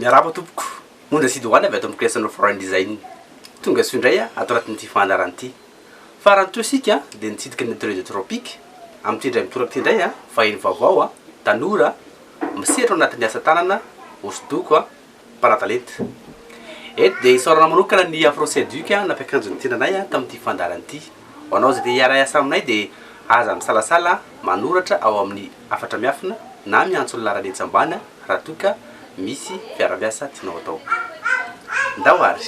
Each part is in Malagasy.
Miarahaba tompoko, Ondra sy Doany avy ato amin'ny Creational Foreign Design. Tonga soa indray ato anatin'ity fandaharana ity. Farany toa isika dia nitsidika ny Atelier de Tropic. Amin'ity indray mitoraka ity indray, vahiny vaovao, tanora, misehatra ao anatin'ny asa tanana, hosodoko, mpanatalenta. Eto dia isaorana manokana ny Afro Seduc nampiakanjo ny tena anay tamin'ity fandaharana ity. Ho anao izay te hiara-hiasa aminay dia aza misalasala manoratra ao amin'ny. hafatra miafina na miantso ny laharan'ny etsy ambany raha toa ka misy mpiara-miasa tianao atao. Ndao ary!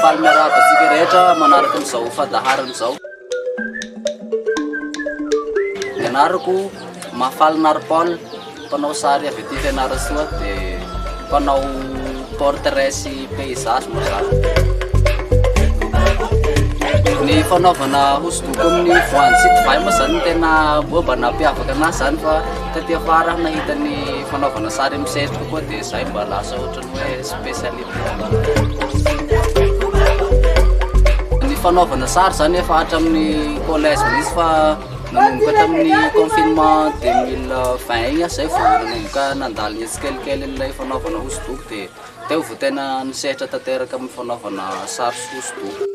Faly miarahaba antsika rehetra manaraka an'izao fandaharana izao. Ny anarako Mafaly Nary Paul, mpanao sary avy aty Fianarantsoa dia mpanao portrait sy paysage mazava. Ny fanaovana hosodoko amin'ny voanjo sy divay moa izany tena bomba nampiavaka anazy izany fa taty afara nahita ny fanaovana sary amin'ny sery kokoa dia izay mba lasa ohatra Ny fanaovana sary zany efa hatramin'ny collège mihitsy fa nanomboka tamin'ny confinement 2020 igny zay vao nanomboka nandalina tsikelikely an'ilay fanaovana hosodoko dia teo vao tena nisehatra tanteraka amin'ny fanaovana sary hosodoko.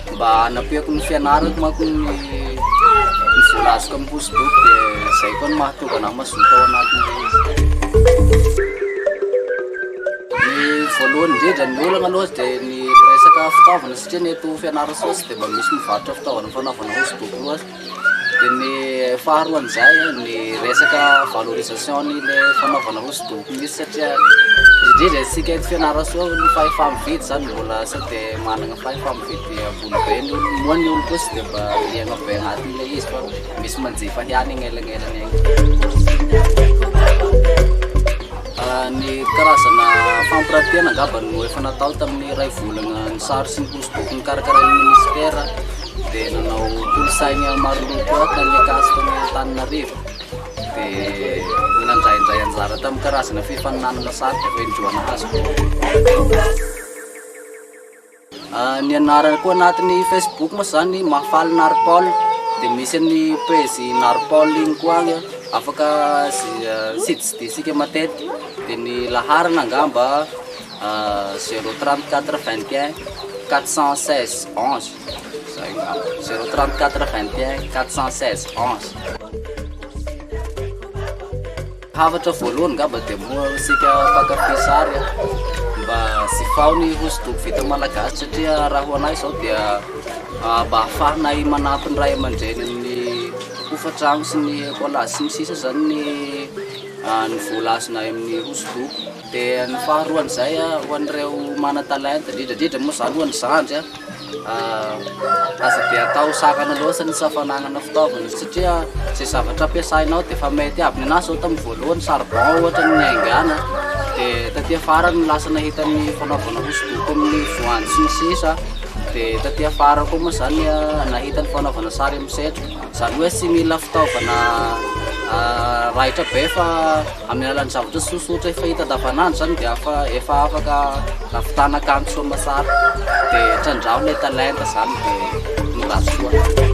Mba hanampiako ny fianarako manko ny ny vola azoko amin'ny hosodoko dia izay koa no mahatonga anah mazoto ao anatin'ilay izy. Ny voalohany indrindra ny olana aloha dia ny resaka fitaovana satria ny eto Fianarantsoa tsy dia mba misy mivarotra fitaovana fanaovana hosodoko loatra. Dia ny faharoan'izay ny resaka valorisation ny fanaovana hosodoko mihintsy satria indrindra isika eto Fianarantsoa ny fahefa-mividy izany mbola sao dia manana fahefa-mividy ambony be ny olona moa ny olona kosa dia mba liana be anatiny ilay izy fa misy manjifa ihany eny anelanelan'ny eny. Ny karazana fampirantiana angamba no efa natao tamin'ny iray volana ny sary sy ny hosodoko nokarakarain'ny minisitera. dia nanao kolosaina maroloko koa tany Ankasitra ny Antananarivo dia nandraindray anjara tamin'ny karazana fifaninanana satroka toy ny joana hazo. Ah, ny anarana koa anatin'ny Facebook moa izany Mahafaly Narpol dia misy an'ny page Narpol iny koa agny afaka zi- ah, sidintsidintsika matetika dia ny laharana angamba zéro trente quatre vingt et un quatre cent seize onze zay ngamba zéro trente quatre vingt et un quatre cent seize onze hafatra voalohany ngamba dia moa isika mpankafy sary a mba zifao ny hosodoko vita malagasy satria raha ho anay izao dia ah, mba ahafahanay manampy ny ray aman-dreny amin'ny hofantrano sy ny collage sy ny sisa izany ny ah, ny vola azonay amin'ny hosodoko Dia ny faharoan'izay, ho an'ireo manan-talenta, indrindra indrindra moa izany ho an'ny zandry, aza be atao sarana loatra ny tsy fananana fitaovana satria izay zavatra ampiasaina ao dia efa mety aby. Ny anahy izao tamin'ny voalohany charbon ohatra no niaingàna dia taty afara no lasa nahita ny fanaovana hosodoko amin'ny voanjo sy ny sisa dia taty afara koa moa izany nahita ny fanaovana sary amin'ny setra. Izany hoe tsy mila fitaovana raitra be fa amin'ny alalan'ny zavatra tsotsotra efa hita andavanandro izany dia efa afaka ahavitana akanjo soa aman-tsara. Dia trandraho ilay talenta izany dia ny ratsy koa.